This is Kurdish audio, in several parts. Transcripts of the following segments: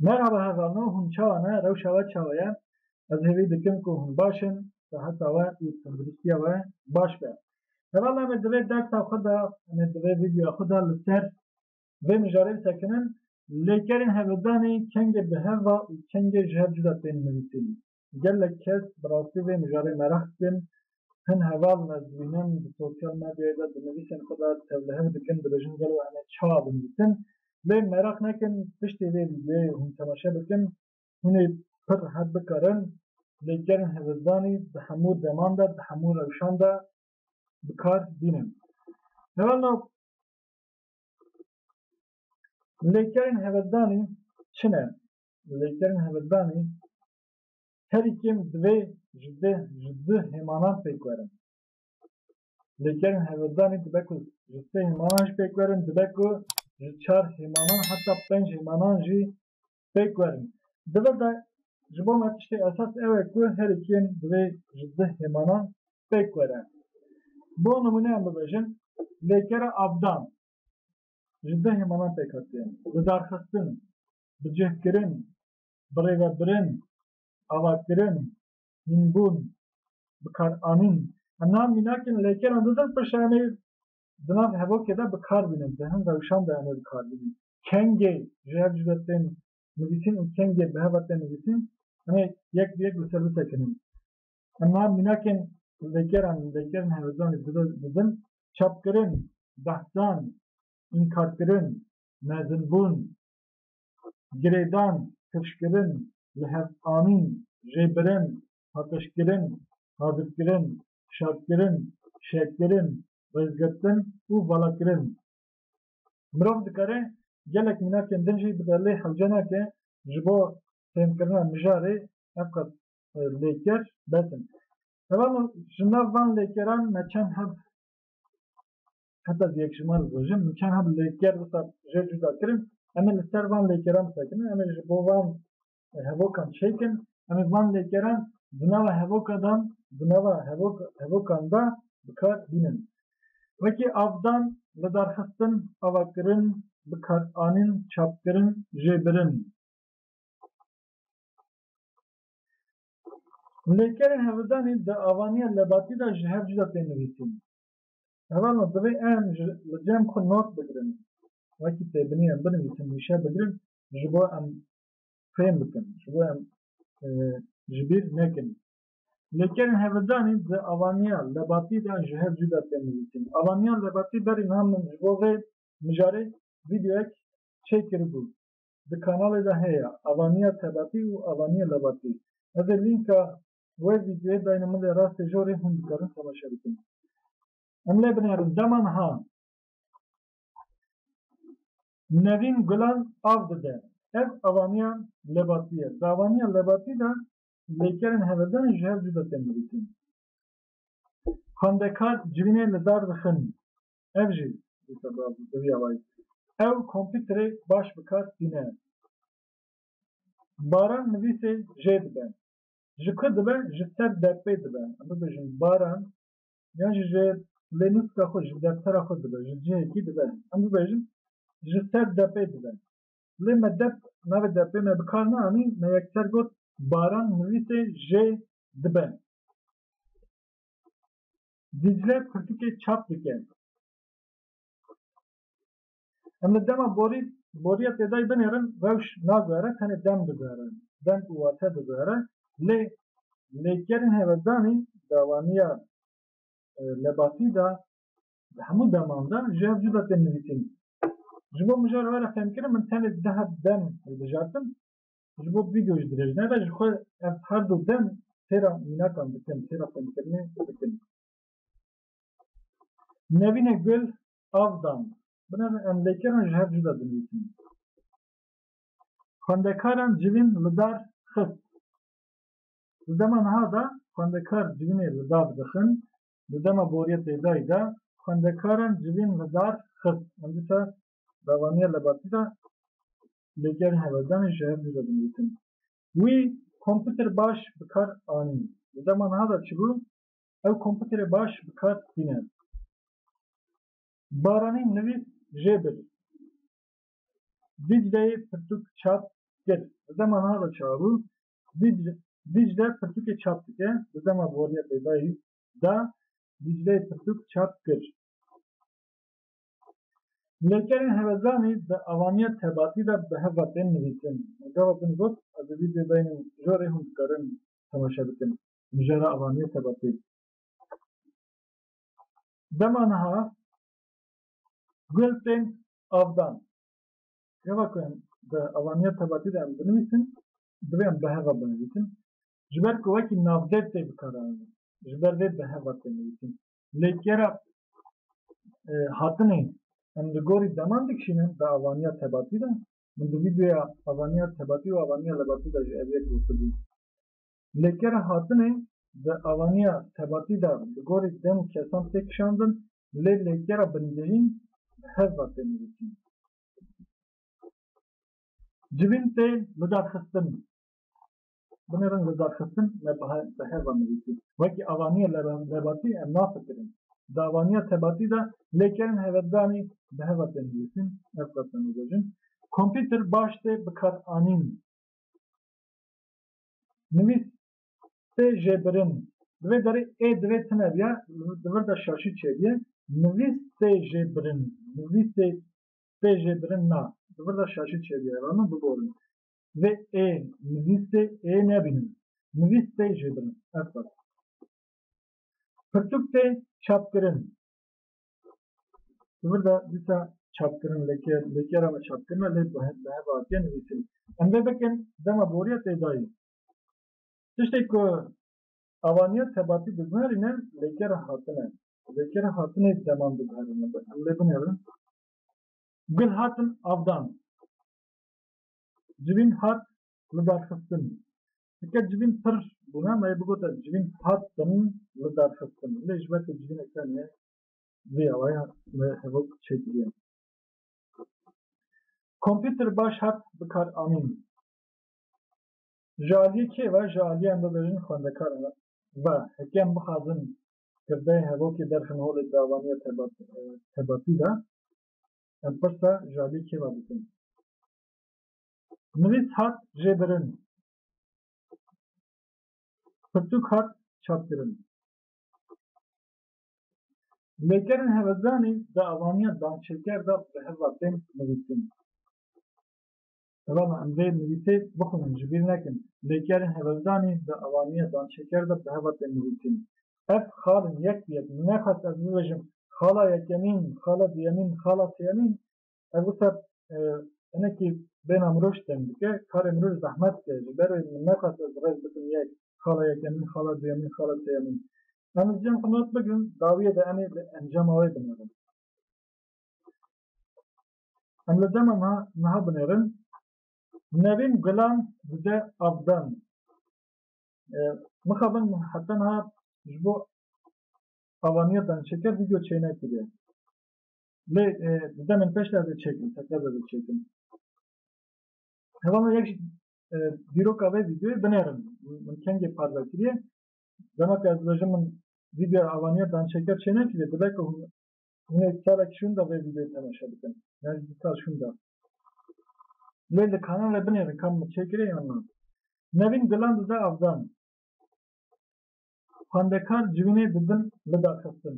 Merhaba hevano hûn çawa ne rewşa we çawa ye ez hêvî dikim ku hûn baş in seheta we û tenduristiya we baş be hevala me divê dersa xwe de me divê vîdyoya xwe de li ser vê mijarê bisekinin lêkerên hevildanê kengê bi hev va û kengê ji hev cuda tên nivîsîn Gelek kes bi rastî vê mijarê meraq dikin, hin heval ne dibînin, di sosyal medyayê de di nivîsên xwe de tevlihev dikin, dibêjin gelo em ê çawa binivîsin. Lê meraq nekin, piştî vê vîdeoyê hûn temaşe bikin, hûn ê pir rihet bikarin. Lê gelên hevizdanî di hemû deman de, di hemû rewşan de bi kar bînin. Heval na lê gelên hevizdanî çi ne? Lêkerin Hemeddanê herî kêm divê ji deh ji du hêmanan pêk werin. Lêkerin Hemeddanê dibe ku ji sê hêmanan jî pêk werin, dibe ku ji çar hêmanan heta penc hêmanan jî pêk werin. Di vir de ji bo me tiştê esas ew e ku herî kêm divê ji du hêmanan pêk were. Bo nimûne em bibêjin lêkera Abdan ji du hêmanan pêk hatiye. Li darxistin bi cih kirin, birêvebirin, avakirin, hînbûn, bikaranîn. Em niha mînakên leykeran didin pir şayanê di nav hevokê de bi kar bînin, di hin rewşan de em ê bi kar bînin. Kengê ji hev cuda tên nivîsîn û kengê bi heva tên nivîsîn em ê yek bi yek li ser bisekinin. Em niha mînakên leykeran û leykerên hevezanê didin, çapkirin, behsan, înkarkirin, mezinbûn, girêdan, piştkirin, lihevdanîn, jêbirin, paqijkirin, hazirkirin, şadkirin, şehkirin, rêzgirtin û valakirin. Mirov dikare gelek mînakên din jî bide lê hewce nake ji bo fêhmkirina mijarê ev qas lêker bes in. Heval ji nav van lêkeran me çend hev heta di yekşîma li rojê min çend heb lêker wisa jê cuda kirin em ê li ser van lêkeran bisekinin em ê ji bo van hevokan çêkin em ê van lêkeran di nava hevoka dan di nava hevokan da bi kar bînin wekî avdan lidarxistin avakirin bi kar anîn çapkirin jê birin Lêkerên hevidanê di avaniya lebatî de ji hev cuda tê nivîsîn. Heval no divê em ji li cem xwe not bigirin wekî têbinî em binivîsin wîşe bigirin ji bo em fêm bikin ji bo em ji bîr nekin. Lê kerên hevildanî di avaniya lebatî de ji hev cû de tên nivîsîn. Avaniya lebatî berî niha min ji bo vê mijarê vîdeoyek çêk kiribû. Di kanalê de heye avaniya tebatî û avaniya lebatî. Ez ê lînka Wê vîdyoyê dayne min lê rastê jorê hûn dikarin temaşe bikin. Em lê binerin dema niha Nevîn gulan av dide. Ev avaniya lebatî ye. Di avaniya lebatî de lêkerên hevedan ji hev cuda tên nivîsîn. Xwendekar civînê li dar dixin. Ev jî dîsa bi vî awayî. Ew kompîterê baş bi kar tîne. Baran nivîsê jê dibe. ji ku dibe ji ser derpê dibe em bibêjin baran yan jî ji lê nûska xwe ji deftera xwe dibe ji cihekî dibe em bibêjin ji ser depê dibe lê me dep navê depê me bi kar neanî me yekser got baran nivîsê jê dibe. Dicle pirtûkê çap dike. Em li dema borî borîya têdayî binêrin rewş naguhere tenê dem diguhere, dem û wate diguhere lê lêkerên hêvekdanî dawaniya lebatî de di hemû deman de ji hev cuda tên nivîsîn. Ji bo mijar were fêmkirin min tenê deh dem hilbijartin ji bo vîdeo ji dirêjine re ji xwe ev her du dem têra mînakan dikin, têra fêmkirinê dikin. Nevîne Gul avdan binevê em lêkeran ji hev cuda dinivîsin. Xwendekaran civîn li dar xist. Di dema niha de xwendekar civînê li dar dixin, di dema boriya têdayî de xwendekaran civîn li dar xist. Em dîsa davaniya lebatî de lêkerên hevedanê ji hev cuda dinivîsin. Wî kompûter baş bi kar anî. Di dema niha de çi bû? ew komputerê baş bi kar tîne. Baranî nivîs jê bir. Dîcleyê pirtûk çap kir. Bi zema niha de çabû. Dîcle pirtûkê çap dike. Bi zema boriya pêdayî de Dîcleyê pirtûk çap kir. Lêkerên hevezanî di avaniya tebatî de bi hev ve tên nivîsin. Gava din got, ez ê vîdyoyê dayînim jorê hûn dikarin temaşe bikin. mijara avaniye seba pê. Dema niha gul tên avdan. Gava ku em bi avaniye tebatî de em binivîsin, divê em bi heva binivîsin. Ji ber ku wekî navdêt tê bikaranîn. Ji ber vê bi heva tê nivîsîn. Lê kera hatinê em li gorî deman dikişînin bi avaniya tebatî de, min di vîdeoya avaniya tebatî û avaniya lebatî de jî ev yek gotibû. Lê kera hatinê di avaniya tebatî de bi gorî dem kesan tê kişandin lê lê kera bingehîn bi hevva tê nivîsîn. Civîn tê lidarxistin. Binê reng lidarxistin me bi hevva nivîsî. Wekî avaniya lebatî em nafikirin. Di avaniya tebatî de lê kerên heveddanî bi hevva tê nivîsîn. Ev qasdem bibêjin. Kompîter baş tê bikaranîn. Nivîs sê jê birin. Di vê derê ê di vê tune biya, di vir de şaşî çêbiye. Nivîs sê jê birin. Nivîsê sê jê birin na. Di vir de şaşî çêbiye. Ev min biborin. Vê ê nivîsê ê nebînin. Nivîs sê jê birin. Ev qas. Pirtûk tê çapkirin. Burada disa çapkirin leke lekera me çapkirina lê bi heva hatiye nivîsin. Em vê bikin dema boriya têdayî. Tiştê ku avaniya tebatî diguherîne lekera hatine. Lekera hatine deman diguherîne. Em lê binêrin. Gul hatin avdan. Civîn hat lidarxistin. Heke civîn pir bûne me yê bigota civîn hat bin li darxistin lê ji ber ku civîne kem ye vê awaya me hevok çêkiriye. Kompîter baş hat bikar anîn. Ji aliyê kê ve? Ji aliyê em bibêjin xwendekar ve. Heke em bixwazin kirdeyê hevokê derxin holê davaniya tebatî de em pirsa ji aliyê kê ve bikin. Nivîs hat jêbirin. Pirtûk hat çapkirin. Lêkerên hevezanî di avaniya dançêker de bi heva tên nivîsîn. Helama em vê nivîsê bixwînin ji bîr nekin. Lêkerên hevezanî di avaniya dançêker de bi heva tên nivîsîn. Ev xal in yek bi yek. Min nexwest ez bibêjim xala yekemîn, xala duyemîn, xala sêyemîn. Ev wisa hinekî bêhna mirov ji teng dike, karê mirov ji zehmet dike. Ji ber wê min nexwest ez rêz bikim yek, xala yekemîn, xala duyemîn, xala sêyemîn. Em li cem xwe nod bigirin, dawiyê de em ê di encama wê binêrin. Em li dema niha niha binêrin. Nevîn Gulan dide avdan. Mixabin heta niha ji bo avaniya danişêker vîdeo çênekiriye. Lê di demên peş de ez ê çêkim, tekez ez ê çêkim. Heva min yek ji dîroka vê vîdeoyê binêrin. Min kengê parve kiriye. Dema ku ez dibêjim min vîdeoya avaniya dançêker çê nekiriye, dibe ku hûn hûn ê salek şûn de vê vîdeoyê temaşe bikin. Yan ji du sal şûn de. Lê li kanalê binêrin ka min çêkiriye yan na. Nevîn Dilan dize avdan. xwendekar civînê di bin bida xistin.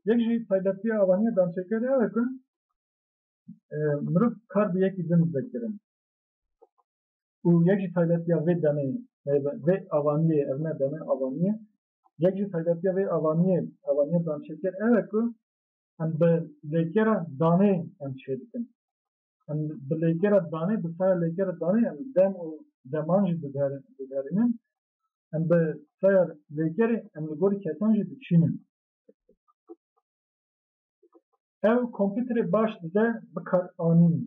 Yek jî taybetiya avaniya dançêkerê ew e ku mirov kar bi yekî din dibe kirin û yek jî taybetiya vê demê vê avaniyê ev ne deme avaniyê yek jî taybetiya vê avaniyê avaniya dançêker ew e ku em bi lêkera danê em çê dikin. Em bi lêkera danê bi sera lêkera danê em dem û deman jî digerînin Em bi taya lêkerê em li gorî kesan jî dikişînin. Ew kompîterê baş dide bikar anînê.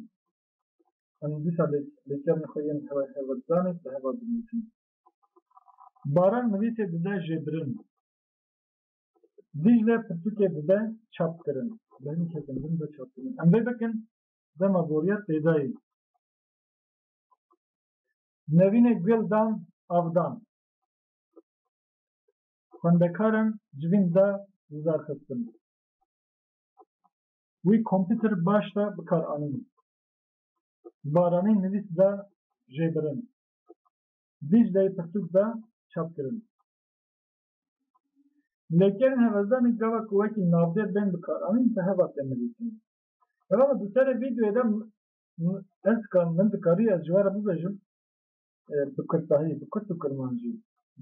Em dîsa lêkerên xwe yên hewa hewa didanê bi hewa dinivîsin. Baran nivîsê dide jêbirin. Dîcle pirtûkê dide çapkirin. Bi hin kesin din de çapkirin. Em vê bikin dema boriya têdayê. Nevîne Guldan Avdan xwendekaran civîn da wizarxistin. Wî kompîtir baş da bikar anîn. Baranî nivîs da jêbirin. Dîcleyê pirtûk da çap kirin. Lêkerên hevezdanê gava ku wekî navdêr bên bikaranîn bi heva tên nivîsîn. Hevala di serê vîdeoyê de Ez dikar, min dikarî ez ji we re bibêjim bi kurtahî, bi kurt û kurmancî.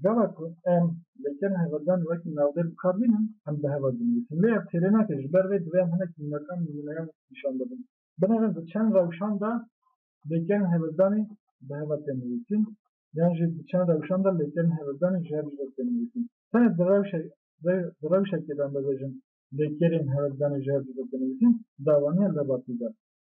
Gava ku em lêkerên hevaldan wekî navdêr bi kar bînin, em bi heval dinivîsin. Lê ev têrê nake, ji ber vê divê em hinek nûnekan, nimûneyan nîşan bidin. Binêrin di çend rewşan de lêkerên hevaldanî bi heval tên nivîsîn yan jî di çend rewşan de lêkerên hevaldanî ji hev ji vir tên nivîsîn. Tenê di rewşe di rewşekê de em bibêjin lêkerên hevaldanî ji hev ji vir tên nivîsîn, dawa niye lê ba pî be.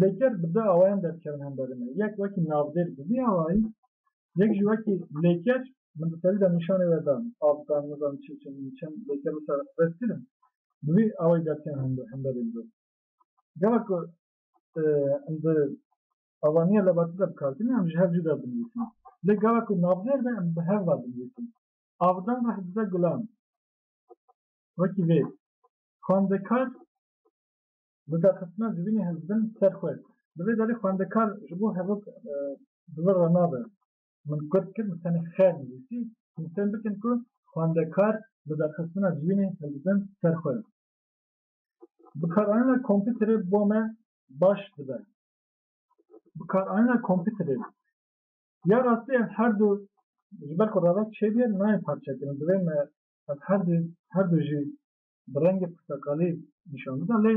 lêker bi du awayan derkevin hemberî me. Yek wekî navdêr bi vî awayî, yek jî wekî lêker min di serî de nîşanê we dan, av dan, nizanim çi çend û çend lêker wisa res kirin, bi vî awayî derkevin hemberî min. Gava ku em di avaniya lebatî de bi kar kirîn em ji hev cuda dinivîsin. Lê gava ku navdêr be em bi hev va dinivîsin. Avdan reh dize gulan. Wekî vê, xwendekar Bi derxistina civînê hizbin ser xwe. Di vê derê xwendekar ji bo hevok bi vir re nabe. Min kurd kir, min tenê xêr nivîsî. Hûn fêm bikin ku xwendekar bi derxistina civînê hizbin ser xwe. Bikaranîna kompîterê bo me baş dibe. Bikaranîna kompîterê. Ya rastî ev her du ji ber ku revek çêbîye nayên parçekirin. Divê me ev her du her du jî bi rengê purteqalî nîşan bida lê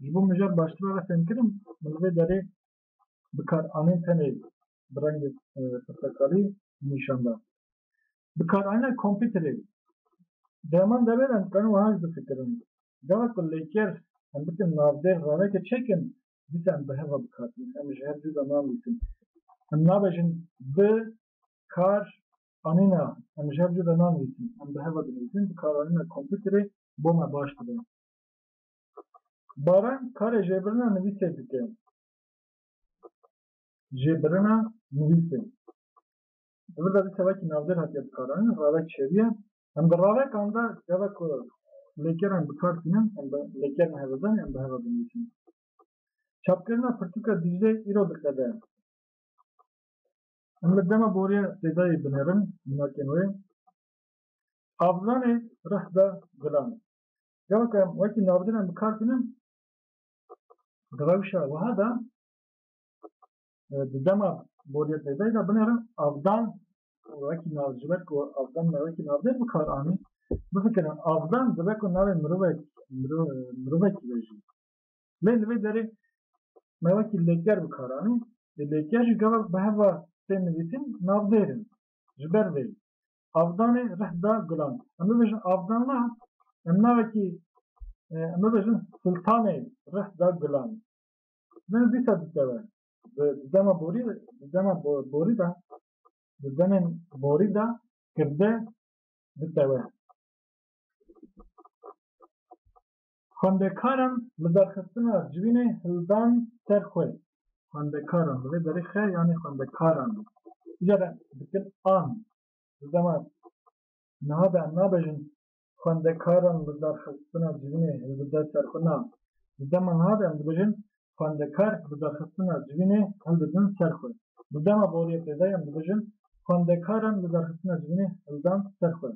ji bo mijar baştir re fêm kirin min li vê derê bikaranên tenê bi rengê purteqalî nîşan da. Bikaranîna kompîterê Deman deverên qerin wiha jî difikirin, gava ku lêker em bikin navdêr raveke çêkin dîsa em bi hev ve bikatînin, em ji hev cû de nanivîsin. Em nabêjin bi kar Anîna, em ji hev cuda nanivîsin, em bi heva dinivîsin, bi karanîna kompîterê bo me baş dibe. Baran karê jêbirina nivîsê dike. Jêbirina nivîsê. Di vir de dîsa wekî navdêr hatiye bikaranîn, ravek çêbiye. Em di ravekan de geve ku lêkeran bikar tînin, em bi lêkerên hevedanê em bi heva dinivîsin. Çapkirina pirtûka Dîcleyê îro diqede. Em li dema boriya sêdayê binêrin minakên wê. Avlanê rih da gulanê. Dewa ku em wekî navdînan bi kar tînin di rewşa wiha de di dema boriya sêdayê de binêrin avdan wekî nav ji ber ku avdan me wekî navdê bi kar anî bifikirin avdan dibe ku navê mirovek mirovekî be jî Lê li vê derê me wekî lêker bi kar anî, lê lêker jî gava bi heva tên nivîsîn navdêr in. Ji ber vê avdanê rih da gulan. Em bibêjin avdan na, em navekî em bibêjin siltanê rih da gulan. Min dîsa dikeve. Di dema borî di dema borî da di demên borî da kirde dikeve. Xwendekaran li derxistina civînê hildan ser xwe. Xwendekaran divê berê xe yanê xwendekaran be. Îcar re dikin an. Di dema niha de em nabêjin xwendekaran li derxistina civînê hilbide ser xwe na. Di dema niha de em dibêjin xwendekar li derxistina civînê hildidin ser xwe. Di dema boriyê pêdayî em dibêjin xwendekaran li derxistina civînê hildan ser xwe.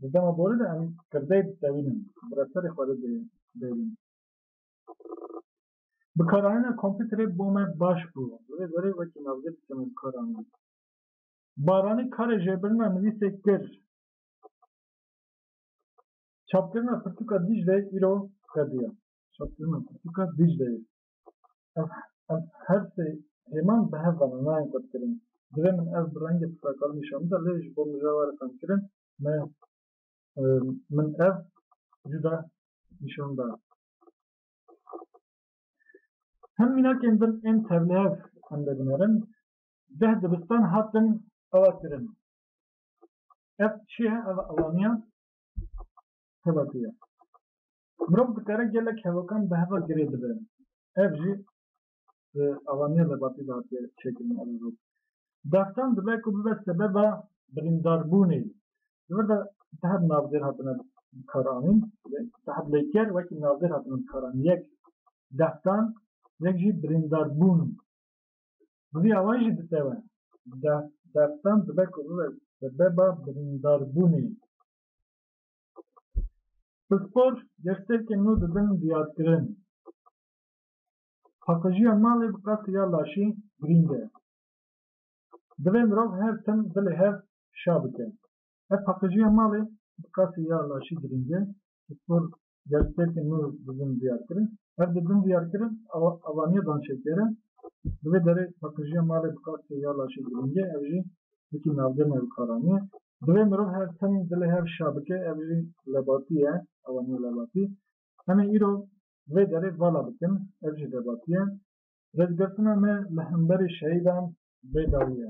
Di dema borî de em kirdeyê ditewînin, bi reserê xwe re dê bêrin. Bikaranîna kompîterê bo me baş bû. Li vê gorî wekî navgir dikeme bikaranîn. Baranî karê jêbirina nivîsê kir. Çapkirina pirtûka Dîcleyê îro xwediya. Çapkirina pirtûka Dîcleyê. Ez ez her sê hêman bi hev ve ne nayên qutkirin. Divê min ev bi rengê pirtakal nîşan bida lê ji bo mijawaritan kirin me min ev cuda nîşan da. Hin mînakên din ên tevlihev em dê binerin. Deh dibistan hatin ava kirin. Ev çi ye? Ev alaniya tevatiya. Mirov dikare gelek hevakan bi heva girê bibe. Ev jî di avaniya Lebatî de hatiye çêkirin ev rû. Daxtan dibe ku bibe sebeba birîndarbûnê. Di vir de di heb navdêr hatine bikaranîn, di heb lêker wekî navdêr hatine bikaranîn. Yek daxtan, yek jî birîndarbûn. Bi vî awayî jî ditewe. Daxtan dibe ku bibe sebeba birîndarbûnê. Pispor gersekên nû dibin diyarkirin. Paqijîya malê bi qasî ya laşî girîng e. Divê mirov her tim dilê hev şa bike. Ev paqijîya malê bi qasî ya laşî girîng e. Pispor gersekên nû dibin diyarkirin. Ev di bin diyarkirin avaniya danşêker e. Di vê derê paqijîya malê bi qasî ya laşî girîng e. Ev jî wekî navdeme wikaranî ye. Divê mirov her tim dilê hev şa bike ev jî lebatî ye, ewa niha lebatî. Em ê îro vê derê vala bikin, ev jî lebatî ye. Rêzgirtina me li hemberî şehîdan bêdawî ye.